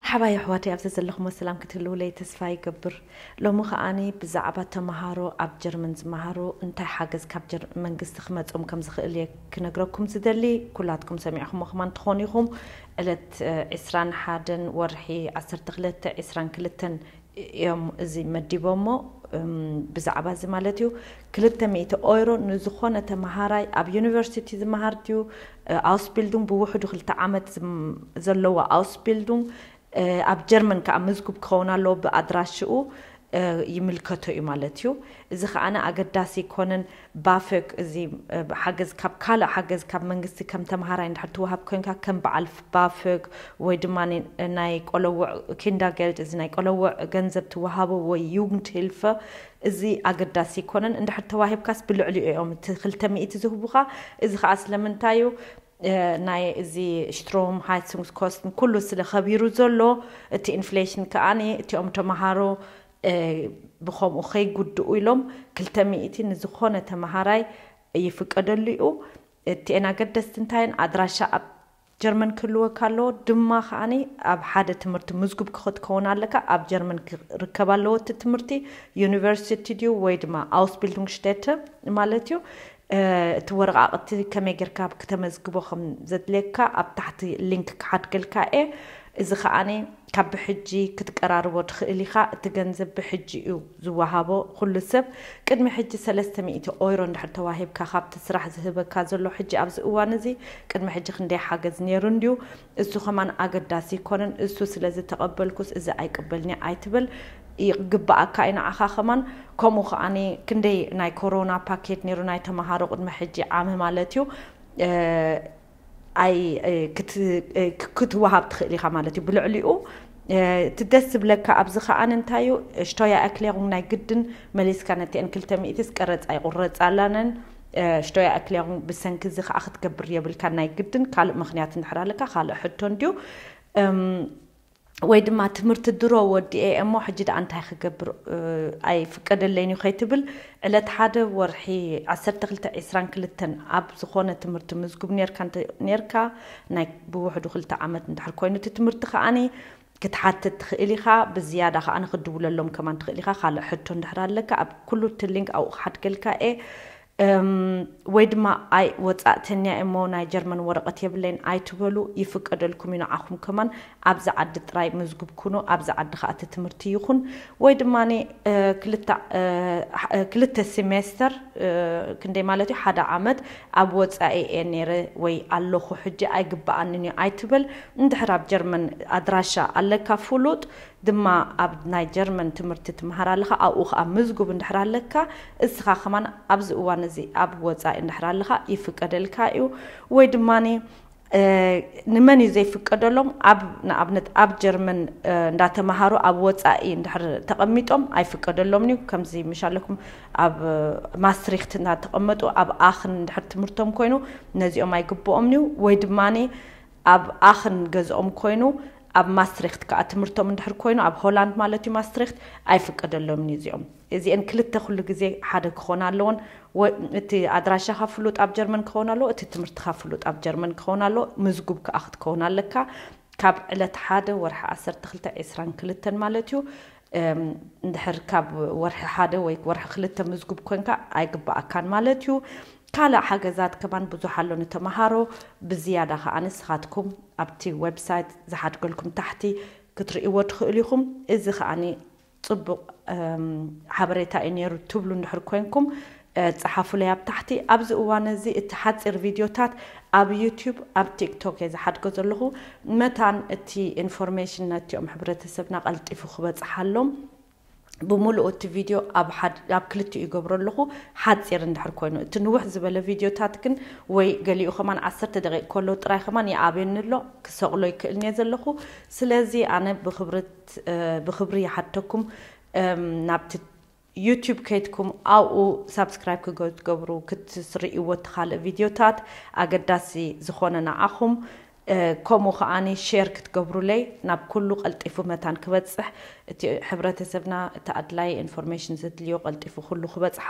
መርሓባ የሕዋተይ ኣብ ዘዘለኽሞ ሰላም ክትህልዉለይ ተስፋ ይገብር ሎሚ ከኣ ብዛዕባ ተማሃሮ ኣብ ጀርመን ዝማሃሩ እንታይ ሓገዝ ካብ ጀርመን መንግስቲ ክመጾም ከም ዝኽእል እየ ክነግረኩም ዝደሊ ኩላትኩም ሰሚዕኽሞ ከማን ትኾኑ ኢኹም ዕለት ዕስራን ሓደን ወርሒ ዓሰርተ ክልተ ዕስራን ክልተን እዮም እዚ መዲቦሞ ብዛዕባ እዚ ማለት እዩ ክልተ ሚእቲ ኦይሮ ንዝኾነ ተመሃራይ ኣብ ዩኒቨርሲቲ ዝመሃር ድዩ ኣውስቢልዱንግ ብውሕዱ ክልተ ዓመት ዘለዎ ኣውስቢልዱንግ ኣብ ጀርመን ከኣ ምዝጉብ ክኸውን ኣለዎ ብኣድራሽኡ ይምልከቶ እዩ ማለት እዩ እዚ ከኣ ኣገዳሲ ኣይኮነን ባፍክ እዚ ሓገዝ ካብ ካልእ ሓገዝ ካብ መንግስቲ ከም ተምሃራይ እንድሕር ትወሃብ ኮንካ ከም በዓል ባፍክ ወይ ድማ ናይ ቆለውዕ ኪንዳገልድ እዚ ናይ ቆለውዕ ገንዘብ ትወሃቦ ወይ ዩግንድሂልፈ እዚ ኣገዳሲ ኣይኮነን እንድሕር ተዋሂብካስ ብልዕሊኡ እዮም እቲ ክልተ ሚእቲ ዝህቡኻ እዚ ከኣ ስለምንታይ እዩ ናይ እዚ ሽትሮም ሃይትሱንግስኮስትን ኩሉ ስለ ከቢሩ ዘሎ እቲ ኢንፍሌሽን ከኣ እቲኦም ተምሃሮ ብኸምኡ ከይጉድኡ ኢሎም ክልተ ሚእቲ ንዝኾነ ተመሃራይ ይፍቀደሉ እዩ። እቲኤን ኣገደስቲ እንታይ እየን? ኣድራሻ ኣብ ጀርመን ክህልወካ ኣለዎ፣ ድማ ከኣ ኣብ ሓደ ትምህርቲ ምዝጉብ ክክትከውን ኣለካ፣ ኣብ ጀርመን ክርከብ ኣለዎ እቲ ትምህርቲ፣ ዩኒቨርሲቲ ድዩ ወይ ድማ ኣውስቢልዱንግሽቴተ ማለት እዩ። እቲ ወረቓቕቲ ከመይ ጌርካ ክተመዝግቦ ከም ዘድልየካ ኣብ ታሕቲ ሊንክ ክሓድገልካ እየ። እዚ ከኣ ካብ ብሕጂ ክትቀራርቦ ትኽእል ኢኻ፣ እቲ ገንዘብ ብሕጂ እዩ ዝወሃቦ፣ ኹሉ ሰብ ቅድሚ ሕጂ ሰለስተ ሚእቲ ኦይሮ እንድሕር ተዋሂብካ ካብቲ ስራሕ ዝህበካ ዘሎ ሕጂ ኣብዚ እዋን እዚ ቅድሚ ሕጂ ክንደይ ሓገዝ ኔሩ እንድዩ እሱ ከማን ኣገዳሲ ኣይኮነን እሱ ስለዝተቀበልኩስ እዚ ኣይቅበልንየ ኣይትበል ይግበኣካ እዩ ንዓኻ ከማን ከምኡ ከኣ ክንደይ ናይ ኮሮና ፓኬት ኔሩ ናይ ተማሃሮ ቅድሚ ሕጂ ዓሚ ማለት እዩ። ክትወሃብ ትኽእል ኢኻ ማለት እዩ ብልዕሊኡ እቲ ደስ ዝብለካ ኣብዚ ከኣ እንታይ እዩ ሽቶያ ኣክሌሩም ናይ ግድን መሊስካ ነቲአን ክልተ ሚእትስ ቀረፃ ይቑረፃላነን ሽቶያ ኣክሌሩም ብሰንኪ እዚ ከዓ ክትገብር የብልካ ናይ ግድን ካልእ ምክንያት እንድሕር ኣለካ ካልእ ሕቶ እንድዩ ወይ ድማ ትምህርቲ ድሮ ወዲኤ እሞ ሕጂ ደኣ እንታይ ክገብር ኣይፍቀደለይን እዩ ከይትብል ዕለት ሓደ ወርሒ ዓሰርተ ክልተ ዕስራን ክልተን ኣብ ዝኾነ ትምህርቲ ምዝጉብ ኔርካ እንተ ኔርካ ናይ ብውሕዱ ክልተ ዓመት እንድሕር ኮይኑ እቲ ትምህርቲ ከኣኒ ክትሓትት ትኽእል ኢኻ ብዝያዳ ከኣ ክድውለሎም ከማን ትኽእል ኢኻ ካልእ ሕቶ እንድሕር ኣለካ ኣብ ኩሉ እቲ ሊንክ ኣብኡ ክሓድገልካ እየ እም ወይ ድማ ኣይ ወጻእተኛ እየሞ ናይ ጀርመን ወረቀት የብለይን ኣይትበሉ ይፍቀደልኩም እዩ ንዓኹም ከማን ኣብዚ ዓዲ ጥራይ ምዝጉብ ኩኑ ኣብዚ ዓዲ ከኣ እቲ ትምህርቲ ይኹን ወይ ድማ ክልተ ክልተ ሲሜስተር ክንደይ ማለት እዩ ሓደ ዓመት ኣብ ወጻኢ እየ ነይረ ወይ ኣለኹ ሕጂ ኣይግበኣንን እዩ ኣይትበል እንድሕር ኣብ ጀርመን ኣድራሻ ኣለካ ፍሉጥ ድማ ኣብ ናይ ጀርመን ትምህርቲ ትምሃር ኣለኻ ኣብኡ ከኣ ምዝጉብ እንድሕር ኣለካ እስኻ ከማን ኣብዚ እዋን እዚ ኣብ ወጻኢ እንድሕር ኣለኻ ይፍቀደልካ እዩ ወይ ድማኒ ንመን እዩ ዘይፍቀደሎም ኣብ ንኣብነት ኣብ ጀርመን እንዳተማሃሩ ኣብ ወጻኢ እንድሕር ተቐሚጦም ኣይፍቀደሎምን እዩ ከምዚ ምሻለኩም ኣብ ማስትሪክት እናተቐመጡ ኣብ ኣኽን እንድሕር ትምህርቶም ኮይኑ ነዚኦም ኣይግብኦምን እዩ ወይ ድማኒ ኣብ ኣኽን ገዝኦም ኮይኑ ኣብ ማስትሪክት ከኣ ትምህርቶም እንድሕር ኮይኑ ኣብ ሆላንድ ማለት እዩ ማስትሪክት ኣይፍቀደሎምን እዩ እዚኦም እዚኤን ክልተ ኩሉ ግዜ ሓደ ክኾና ኣለወን እቲ ኣድራሻኻ ፍሉጥ ኣብ ጀርመን ክኸውን ኣለዎ እቲ ትምህርትኻ ፍሉጥ ኣብ ጀርመን ክኸውን ኣለዎ ምዝጉብ ከኣ ክትከውን ኣለካ ካብ ዕለት ሓደ ወርሒ ዓሰርተ ክልተ ዒስራን ክልተን ማለት እዩ እንድሕር ካብ ወርሒ ሓደ ወይ ወርሒ ክልተ ምዝጉብ ኮንካ ኣይግበኣካን ማለት እዩ። ካልእ ሓገዛት ከማን ብዙሕ ኣሎ ንተመሃሮ ብዝያዳ ከኣ ንስኻትኩም ኣብቲ ወብሳይት ዝሓድገልኩም ታሕቲ ክትርእይዎ ትኽእሉ ኢኹም። እዚ ከኣ ጽቡቕ ሓበሬታ እዩ ኔሩ ትብሉ እንድሕር ኮንኩም ጸሓፉለይ ኣብ ታሕቲ። ኣብዚ እዋን እዚ እቲ ሓጺር ቪድዮታት ኣብ ዩቱብ ኣብ ቲክቶክ እየ ዝሓድጎ ዘለኹ መታን እቲ ኢንፎርሜሽን ነቲኦም ሕብረተሰብና ቀልጢፉ ክበጽሓሎም ብምሉኡ እቲ ቪድዮ ኣብ ሓድ ኣብ ክልቲኡ ይገብሮ ኣለኹ ሓጺር እንድሕር ኮይኑ እቲ ንውሕ ዝበለ ቪድዮታት ግን ወይ ገሊኡ ከማን ዓሰርተ ደቂቕ ከሎ ጥራይ ከማን ይኣብየኒ ኣሎ ክሰቕሎ ይክእል እየ ዘለኹ ስለዚ ኣነ ብክብርት ብክብሪ ይሓተኩም ናብቲ ዩቱብ ከይድኩም ኣብኡ ሳብስክራይብ ክገትገብሩ ክትስርኢዎ እትኻልእ ቪድዮታት ኣገዳሲ ዝኾነ ንዓኹም ከምኡ ከኣ ሼር ክትገብሩለይ ናብ ኩሉ ቀልጢፉ መታን ክበጽሕ እቲ ሕብረተሰብና እቲ ኣድላይ ኢንፎርሜሽን ዘድልዮ ቀልጢፉ ኩሉ ክበጽሖ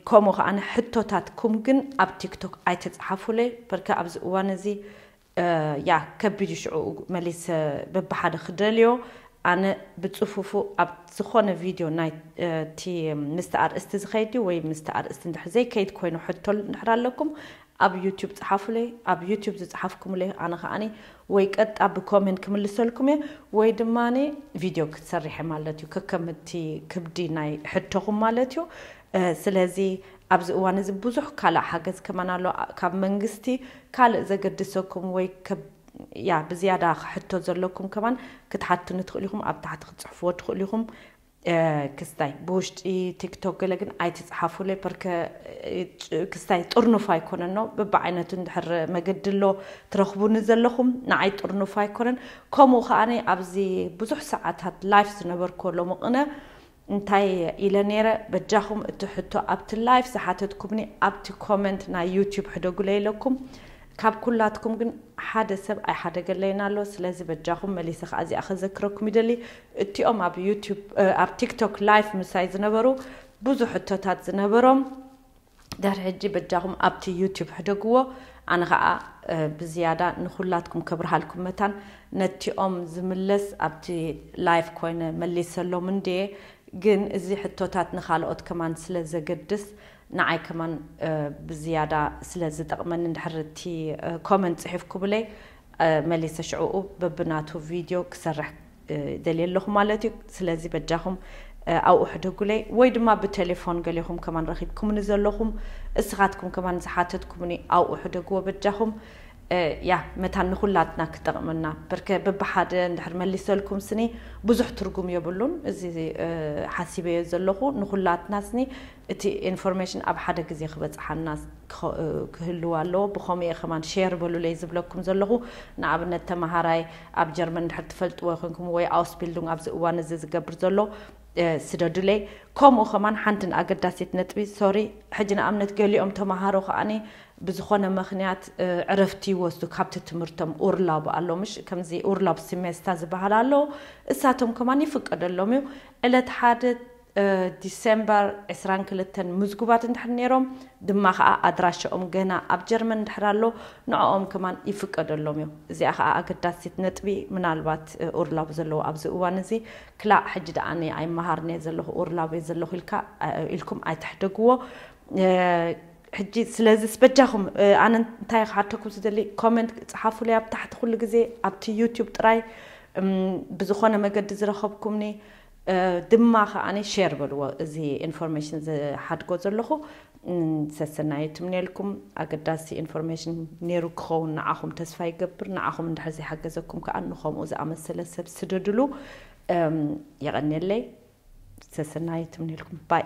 ከምኡ ከኣ ሕቶታትኩም ግን ኣብ ቲክቶክ ኣይተጽሓፉለይ በርከ ኣብዚ እዋን እዚ ያእ ከቢድ እዩ ሽዑ መሊሰ በብሓደ ክደልዮ ኣነ ብጽፉፉ ኣብ ዝኾነ ቪድዮ ናይቲ ምስቲ ኣርእስቲ ዝኸይድ ድዩ ወይ ምስቲ ኣርእስቲ እንድሕር ዘይከይድ ኮይኑ ሕቶ እንድሕር ኣለኩም ኣብ ዩቱብ ጽሓፉለይ ኣብ ዩቱብ ዝጽሓፍኩምለይ ኣነ ከኣኒ ወይ ቀጥታ ብኮሜንት ክምልሰልኩም እየ ወይ ድማ ቪድዮ ክትሰርሐ ማለት እዩ ከከምቲ ክብዲ ናይ ሕቶኹም ማለት እዩ ስለዚ ኣብዚ እዋን እዚ ብዙሕ ካልእ ሓገዝ ከማን ኣሎ ካብ መንግስቲ ካልእ ዘገድሰኩም ወይ ከብ ያ ብዝያዳ ሕቶ ዘለኩም ከማን ክትሓቱኒ ትክእሉ ኢኩም ኣብ ታሕቲ ክትጽሕፍዎ ትክእሉ ኢኩም ክስታይ ብውሽጢ ቲክቶክ ገለ ግን ኣይትጽሓፉለይ ፐርከ ክስታይ ጥርኑፍ ኣይኮነን ነው ብብዓይነቱ እንድሕር መገዲ ኣሎ ትረክቡኒ ዘለኹም ንዓይ ጥርኑፍ ኣይኮነን ከምኡ ከኣ ኣብዚ ብዙሕ ሰዓታት ላይፍ ዝነበርኩ ሎሚ ቅነ እንታይ ኢለ ነይረ በጃኹም እቲ ሕቶ ኣብቲ ላይፍ ዝሓተትኩምኒ ኣብቲ ኮመንት ናይ ዩቱብ ሕደጉለይ ኢለኩም ካብ ኩላትኩም ግን ሓደ ሰብ ኣይሓደገለይን ኣሎ ስለዚ በጃኹም መሊሰ ከኣ እዚኣ ከዘክረኩም ይደሊ እቲኦም ኣብ ዩቱብ ኣብ ቲክቶክ ላይፍ ምሳይ ዝነበሩ ብዙሕ ሕቶታት ዝነበሮም ድሕሪ ሕጂ በጃኹም ኣብቲ ዩቱብ ሕደግዎ ኣነ ኻኣ ብዝያዳ ንኹላትኩም ከብርሃልኩም መታን ነቲኦም ዝምለስ ኣብቲ ላይፍ ኮይነ መሊሰሎም እንድየ ግን እዚ ሕቶታት ንኻልኦት ከማን ስለ ዘገድስ ንዓይ ከማን ብዝያዳ ስለ ዝጠቅመኒ ድሕሪ እቲ ኮመንት ጽሒፍኩምለይ መሊሰ ሽዑኡ በብናቱ ቪድዮ ክሰርሕ ደልየ ኣለኹ ማለት እዩ ስለዚ በጃኹም ኣብኡ ሕደጉለይ ወይ ድማ ብቴሌፎን ገሌኹም ከማን ረኺብኩምኒ ዘለኹም እስኻትኩም ከማን ዝሓተትኩምኒ ኣብኡ ሕደግዎ በጃኹም ያ መታን ንኹላትና ክጠቕመና በርከ በብሓደ እንድሕር መሊሰልኩም ስኒ ብዙሕ ትርጉም የብሉን እዚ ሓሲበዮ ዘለኹ ንኹላትና ስኒ እቲ ኢንፎርሜሽን ኣብ ሓደ ግዜ ክበፅሓና ክህልው ኣለዎ ብከምኡ እየ ከማን ሼር በሉለይ ዝብለኩም ዘለኩ ንኣብነት ተማሃራይ ኣብ ጀርመን እንድሕር ትፈልጥዎ ኮይንኩም ወይ ኣውስቢልዱንግ ኣብዚ እዋን እዚ ዝገብር ዘሎ ስደዱለይ ከምኡ ከማን ሓንቲ ንኣገዳሲት ነጥቢ ሶሪ ሕጂ ንኣብነት ገሊኦም ተማሃሮ ከኣኒ ብዝኾነ ምክንያት ዕረፍቲ ይወስዱ ካብቲ ትምህርቶም ኡርላብ ኣሎ ምሽ ከምዚ ኡርላብ ሲሜስታ ዝበሃል ኣሎ እሳቶም ከማን ይፍቀደሎም እዩ ዕለት ሓደ ዲሰምበር ዕስራን ክልተን ምዝጉባት እንድሕር ነይሮም ድማ ከኣ ኣድራሻኦም ገና ኣብ ጀርመን እንድሕር ኣሎ ንዕኦም ከማን ይፍቀደሎም እዩ። እዚኣ ከኣ ኣገዳሲት ነጥቢ ምናልባት ኡርላብ ዘለዎ ኣብዚ እዋን እዚ ክላእ ሕጂ ደኣ ኣነ ኣይመሃርን እየ ዘለኹ ኡርላብ እየ ዘለኹ ኢልካ ኢልኩም ኣይትሕደግዎ ሕጂ ስለዚስ በጃኹም ኣነ እንታይ ክሓተኩም ዝደሊ ኮመንት ጽሓፉለይ ኣብ ታሕቲ ኩሉ ግዜ ኣብቲ ዩቱብ ጥራይ ብዝኾነ መገዲ ዝረኸብኩምኒ ድማ ከኣ ሼር በልዎ እዚ ኢንፎርሜሽን ዝሓድጎ ዘለኹ ሰሰናዩ ትምነየልኩም ኣገዳሲ ኢንፎርሜሽን ኔሩ ክኸውን ንዓኹም ተስፋ ይገብር ንዓኹም እንድሕር ዘይሓገዘኩም ከኣ ንኸምኡ ዝኣመሰለ ሰብ ስደድሉ የቐንየለይ ሰሰናዩ ትምነየልኩም ባይ